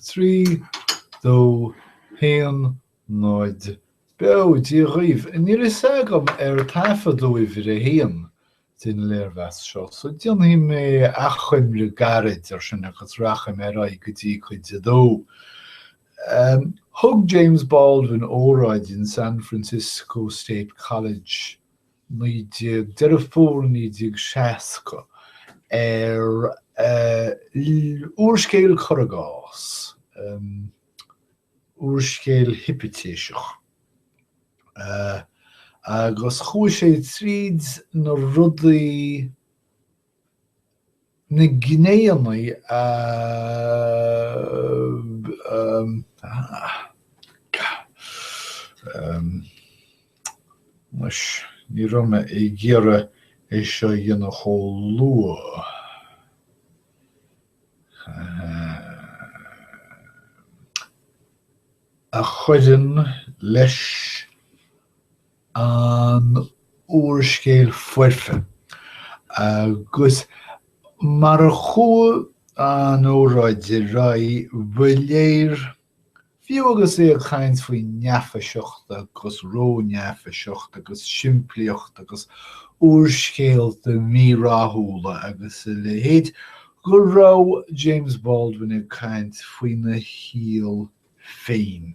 3, 2, 1, 0, Beo! Dia dhaoibh! Níl fhios agam ar taifeadadh uimhir a haon den léirmheas seo, so déanfaidh mé achoimre gairid ar sin agus rachaidh mé ar aghaidh go dtí cuid a dó. Thug James Baldwin óráid in San Francisco State College 19 Deireadh Fómhair 1960, ar úrscéal cuir i gcás, úrscéal hipitéiseach, agus chuaigh sé tríd na rudaí. Na gnéanna a Anois, ní raibh mé ag iarraidh é seo a dhéanamh chomh luath. a chuireann leis an úrscéal foirfe agus mar a chuaigh an óráid ar aghaidh, ba léir, fiú agus é ag caint faoi neafaiseacht agus ró-neafaiseacht agus simplíocht agus úrscéalta mí-rathúla agus a leithéid, go raibh James Baldwin ag caint faoina shaol féin.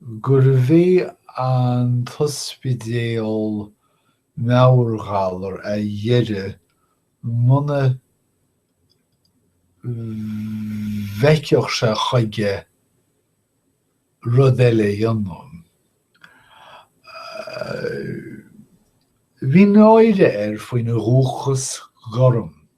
gurbh é an t-ospidéal meabhairghalar a dheireadh muna bhfeicfeadh sé chuige rud eile a dhéanamh. Bhí náire air faoina dhúchas gorm.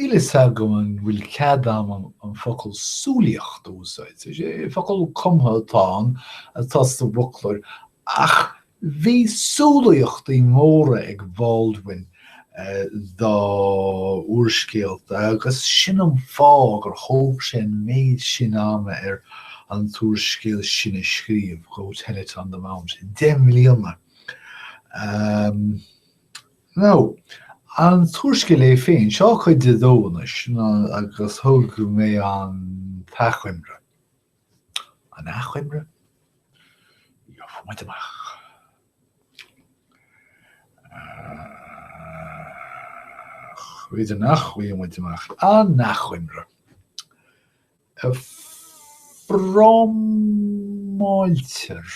Níl a fhios agam an bhfuil cead agam an focal 'súilíocht' a úsáid. Focal cumtha atá ann atá sa bhfoclóir ach bhí súilíochtaí móra ag Baldwin dá úrscéalta agus sin an fáth gur thóg sé an méid sin ama air an t-úrscéal sin a scríobh, Go Tell It on the Mountain. Deich mbliana. Now, an t-úrscéal é féin. Seo cuid a dó anois, agus thug mé an t-achoimre. An achoimre? Gheobhaidh muid amach. B'fhéidir nach bhfaighidh muid amach. An achoimre. Fromáiltear.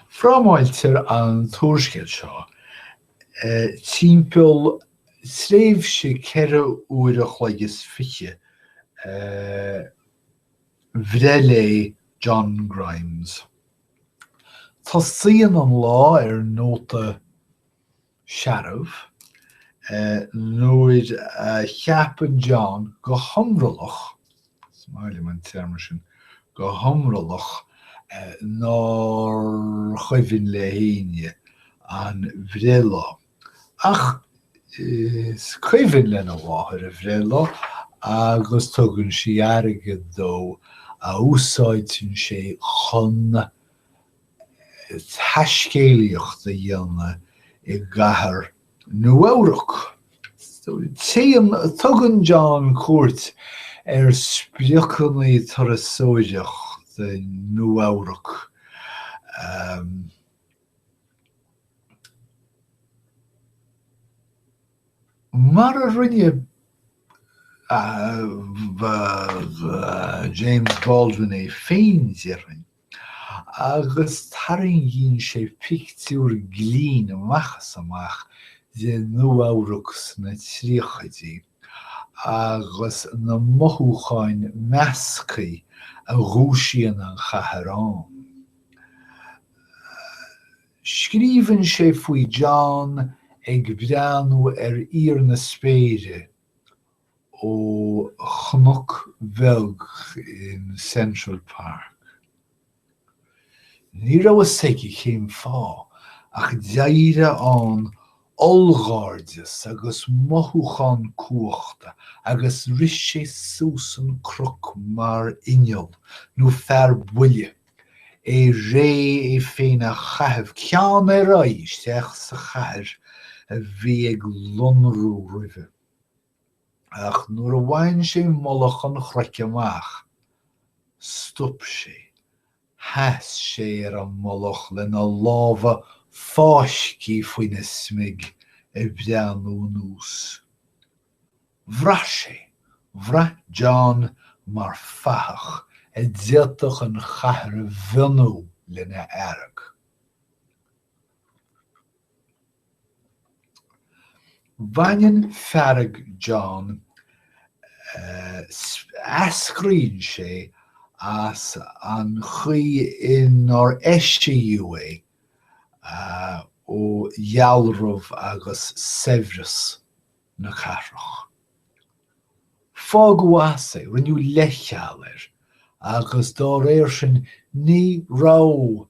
Frámáiltear an t-úrscéal seo timpeall tréimhse ceithre uair a chloig is fiche a bhreithlae John Grimes. Tosaíonn an lá ar nóta searbh. Nuair a cheapann John go hiomrallach, is maith liom an téarma sin, go hiomrallach, nár chuimhin le héinne a bhreithlá, ach is cuimhin lena mháthair a bhreithlá agus tugann sí airgead dó a úsáideann sé chun taiscéalaíocht a dhéanamh i gcathair Nua-Eabhrac. Tugann John cuairt ar spriocanna turasóireachta Nua-Eabhrac um mar a rinne James Baldwin é féin, déarfainn. agus tarraingíonn sé pictiúr glinn amach is amach de Nua-Eabhrac sna tríochaidí agus na mothúcháin measctha a dhúisíonn an chathair ann. Scríobhann sé faoi John ag breathnú ar íor na spéire ó chnoc bheag in Central Park. Ní raibh fhios aige cén fáth ach d'éirigh ann ollghairdeas agus mothúchán cumhachta agus rith sé suas an cnoc mar inneall nó fear buile, é réidh é féin a chaitheamh ceann ar aghaidh isteach sa chathair a bhí ag lonrú roimhe. ach nuair a bhain sé mullach an chnoic amach, stop sé, sheas sé ar an mullach lena lámha fáiscthe faoina smig ag breathnú anuas. Bhraith sé, bhraith John mar fathach a d'fhéadfadh an chathair a mhionú lena fhearg. Baineann fearg John, eascraíonn sé as an chaoi inar eisiadh é ó dhealramh agus saibhreas na cathrach. Fágadh as é, rinneadh leithcheal air agus dá réir sin ní raibh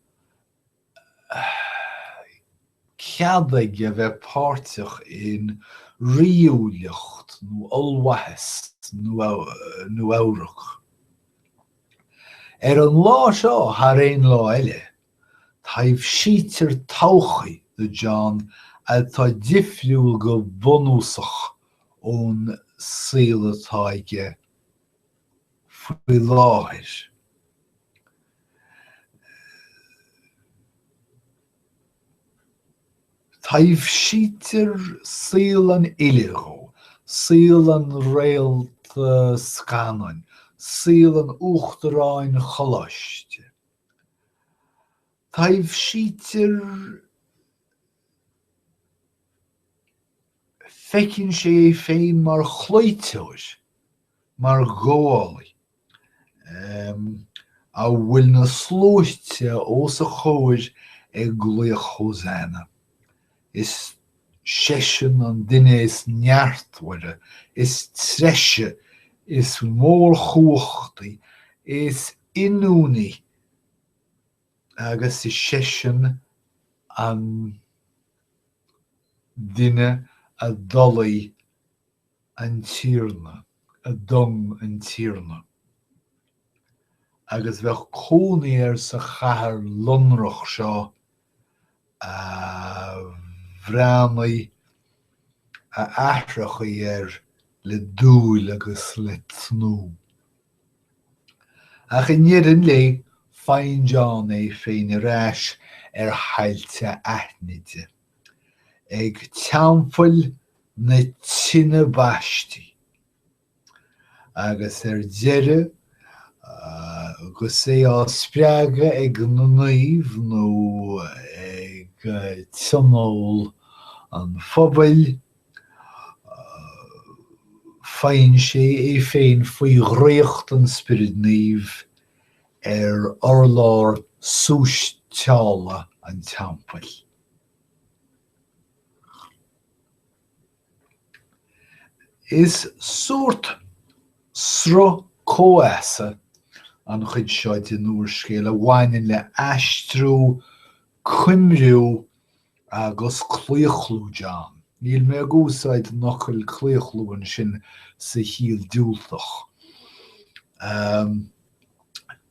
cead aige a bheith páirteach in ríúlacht nó ollmhaitheas Nua Eabhrac. Ar an lá seo thar aon lá eile, taibhsítear todhchaí do John atá difriúil go bunúsach ón saol atá aige. faoi láthair. Taibhsítear saol an fhile dhó, saol an réalta scannáin, saol an uachtaráin choláiste. Taibhsítear Feiceann sé é féin mar chloíteoir. Mar ghabhálaí, a bhfuil na sluaite os a chomhair ag glaoch Hosanna, is seisean an duine is neartmhaire, is treise, is mórchumhachtaí, is ionúiní, agus is seisean an duine a d'olaigh an Tiarna a d'ung an Tiarna, agus bheadh cónaí air sa chathair lonrach seo a bhreathnaigh a aithreachaí air le dúil agus le tnúth. Ach i ndeireadh an lae, faigheann John é féin ar ais ar thailte aithnide. ag Teampall na Tine Baistí, agus ar deireadh, agus é á spreagadh ag na naoimh nó ag tionól an phobail, faigheann sé é féin faoi dhraíocht an Spioraid Naoimh ar urlár súisteála an teampaill. Is sórt sruth comhfheasa an chuid seo den úrscéal a bhaineann le aistriú, coimriú agus claochlú John. Níl mé ag úsáid an fhocail claochlú ansin sa chiall diúltach.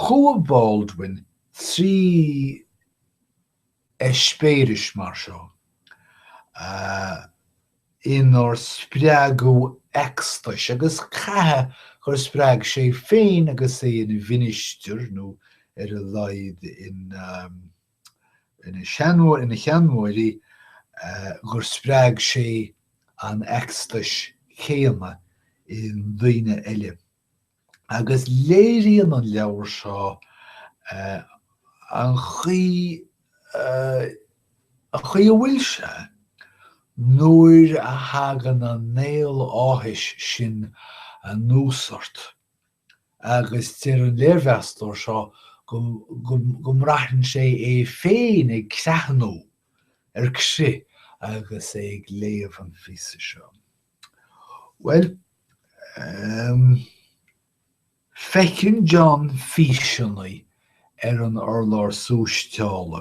Chuaigh Baldwin trí eispéiris mar seo inar spreagadh eacstais agus caithfidh gur spreag sé féin agus é ina mhinistir nó ar a laghad ina sheanmóirí gur spreag sé an eacstais chéanna i ndaoine eile. agus léiríonn an leabhar seo an chaoi an chaoi a bhfuil sé nuair a thagann an néal áthais sin anuas ort agus deir an léirmheastóir seo go mbraitheann sé é féin ag creathnú ar crith agus é ag léamh an phíosa seo. Bhuel, em, feiceann John físeanna ar an urlár súisteála,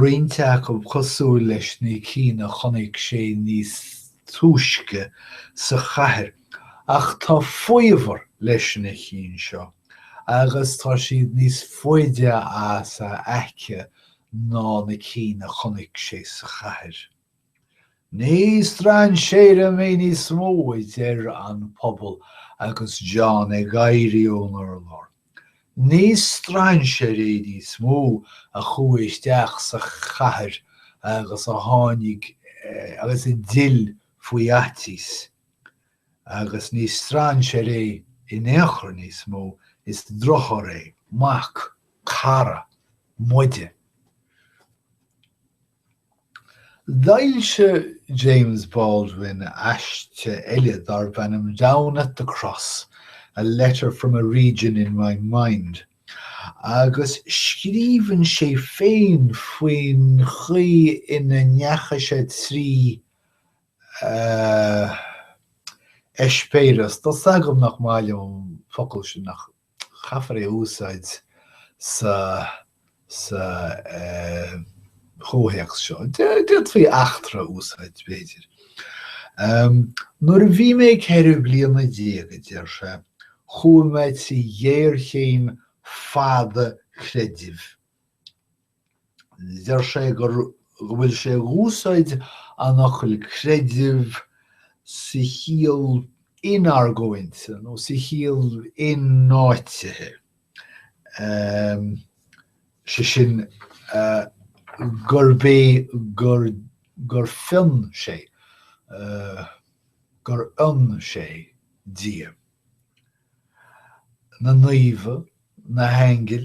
roinnt acu cosúil leis na cinn a chonaic sé níos túisce sa chathair, ach tá faobhar leis na cinn seo agus tá siad níos faide as a aice ná na cinn a chonaic sé sa chathair. Ní strainséir mé níos mó, a deir an pobal agus John ag éirí ón urlár. Ní strainséir é níos mó a chuaigh isteach sa chathair agus a tháinig agus a d'fhill faoi fhaitíos. Agus ní strainséir é in aon chor níos mó, is deartháir é, mac, cara, muide. D'fhoilsigh James Baldwin aiste eile darb ainm 'Down at the Cross, A letter from a region in my mind' agus scríobhann sé féin faoin chaoi ina ndeachaigh sé trí a eispéireas, tá 's agam nach maith liom an focal sin ach caithfear é a úsáid sa chomhthéacs seo. D'fhéadfaí eachtra a úsáid, b'fhéidir. Nuair a bhí mé ceithre bliana déag, a deir sé, chuaigh mé trí ghéarchéim fada creidimh. Deir sé gur go bhfuil sé ag úsáid an fhocail creideamh sa chiall in-argóinte nó sa chiall in-áitithe, sé sin gurb é gur gur fion sé, gur fhionn sé Dia, na naomha, na haingil,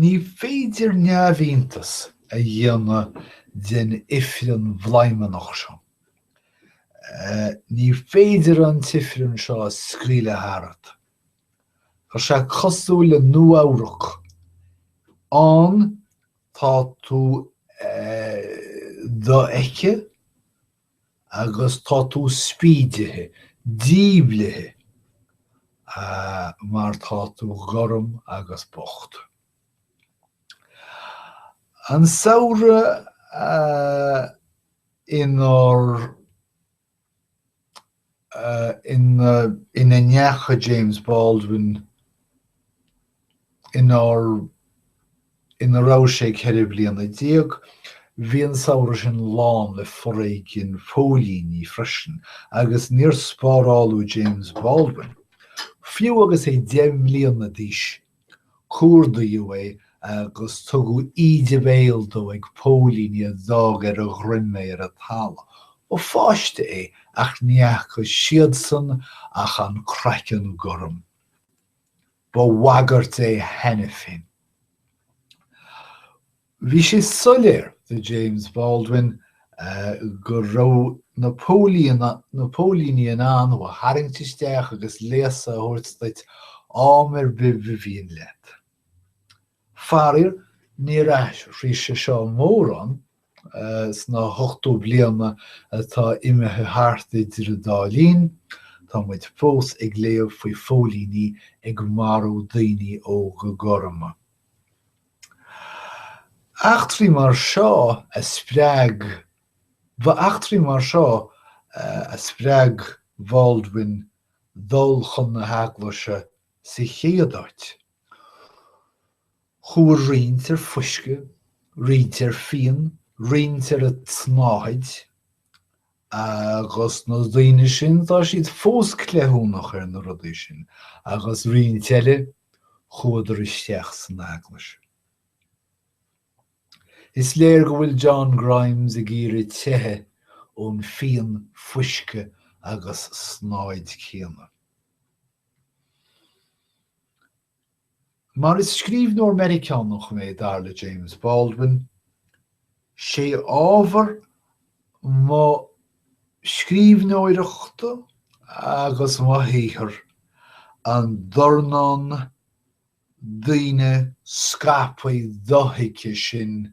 Ní féidir neamhiontas a dhéanamh den ifreann bhladhmannach seo. Ní féidir an t-ifreann seo a scaoileadh tharat. Tá sé cosúil le Nua-Eabhrac. Ann tá tú dofheicthe agus tá tú spídithe, díblithe, ahh, mar tá tú gorm agus bocht. An samhradh, ahh, inár. ina ndeachaigh James Baldwin inár, ina raibh sé ceithre bliana déag. Bhí an samhradh sin lán le foréigean phóilíní freisin agus níor spáráladh James Baldwin, fiú agus é deich mbliana d'aois Cuardaíodh é agus tugadh íde béil dó ag póilíní a d'fhág ar a dhroim é ar an talamh. Ba pháiste é ach ní fhaca siadsan ach an craiceann gorm. Ba bhagairt é cheana féin. Bhí sé soiléir do James Baldwin go raibh na póilíní in ann thú a tharraingt isteach agus léasadh a thabhairt duit am ar bith ba mhian leat. Faraor, níor athraigh sé seo mórán sna hochtó bliana atá imithe thart idir an dá linn, tá muid fós ag léamh faoi phóilíní ag marú daoine óga gorma. Eachtraí mar seo a spreag Ba eachtraí mar seo a spreag Baldwin dul chun na heaglaise sa chéad áit. Chuaigh roinnt ar fuisce, roinnt ar fíon, roinnt ar an tsnáthaid. Agus na daoine sin, tá siad fós cleithiúnach ar na rudaí sin. Agus roinnt eile, chuadar isteach san eaglais. Is léir go bhfuil John Grimes ag iarraidh teitheadh ón fíon, fuisce agus snáthaid céanna. Mar is scríbhneoir Meiriceánach mé, dar le James Baldwin, 'sé ábhar mo scríbhneoireachta agus mo shaothair an dornán daoine scaipthe dothuigthe sin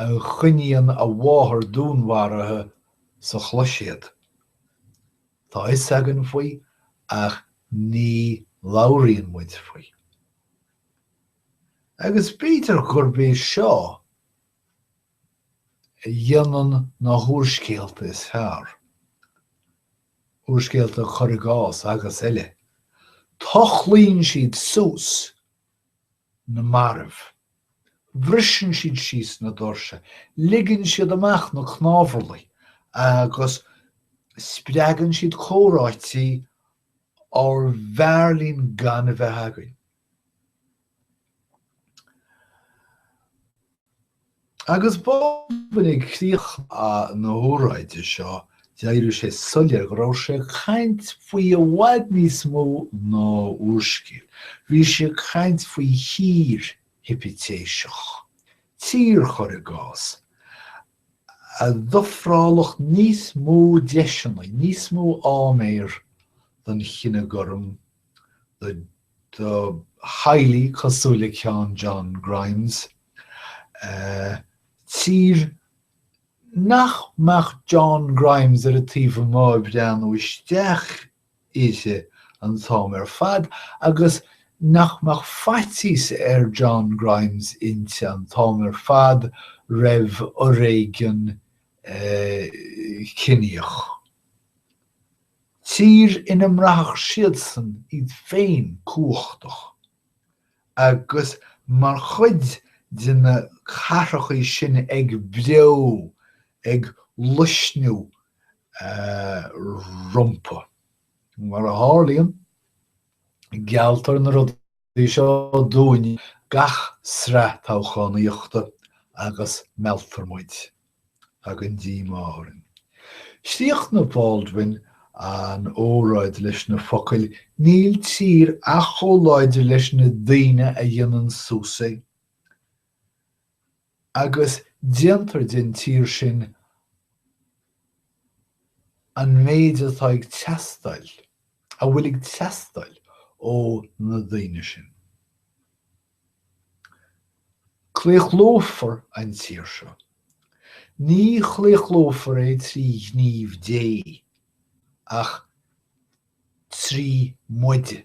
a choinníonn a mháthair dúnmharaithe sa chloiséad. Tá a fhios againn faoi ach ní labhraíonn muid faoi. Agus b'fhéidir gurb é seo a dhéanann na húrscéalta is fearr, úrscéalta cur i gcás agus eile, tochlaíonn siad suas! na mairbh. Briseann siad síos na doirse, ligeann siad amach na cnámharlaigh agus spreagann siad comhráití arbh fhearr linn gan a bheith againn. Agus Baldwin ag críoch na hóráide seo d'éirigh sé soiléir go raibh sé ag caint faoi i bhfad níos mó ná úrscéal. Bhí sé ag caint faoi thír hipitéiseach, tír chur i gcás, a d'ofrálfadh níos mó deiseanna, níos mó áiméar don chine gorm. do theaghlaigh cosúil le ceann John Grimes, tír nach mbeadh John Grimes ar a taobh amuigh ag breathnú isteach uirthi an t-am ar fad agus nach mbeadh faitíos ar John Grimes inti an t-am ar fad roimh fhoréigean ciníoch. tír ina mbraithfeadh siadsan iad féin cumhachtach agus mar chuid de na cathracha sin ag breo, ag luisniú rompu. Mar a tharlaíonn, gealltar na rudaí. seo dúinn gach sraith toghchánaíochta agus mealltar muid. Tagann díomá orainn. Chríochnaigh Baldwin an óráid leis na focail Níl tír ach chomh láidir leis na daoine a dhéanann suas é. agus déantar den tír sin an méid atá ag teastáil, a bhfuil ag teastáil ó na daoine sin. Claochlófar an tír seo. Ní chlaochlófar é trí ghníomh Dé, ach trí muide.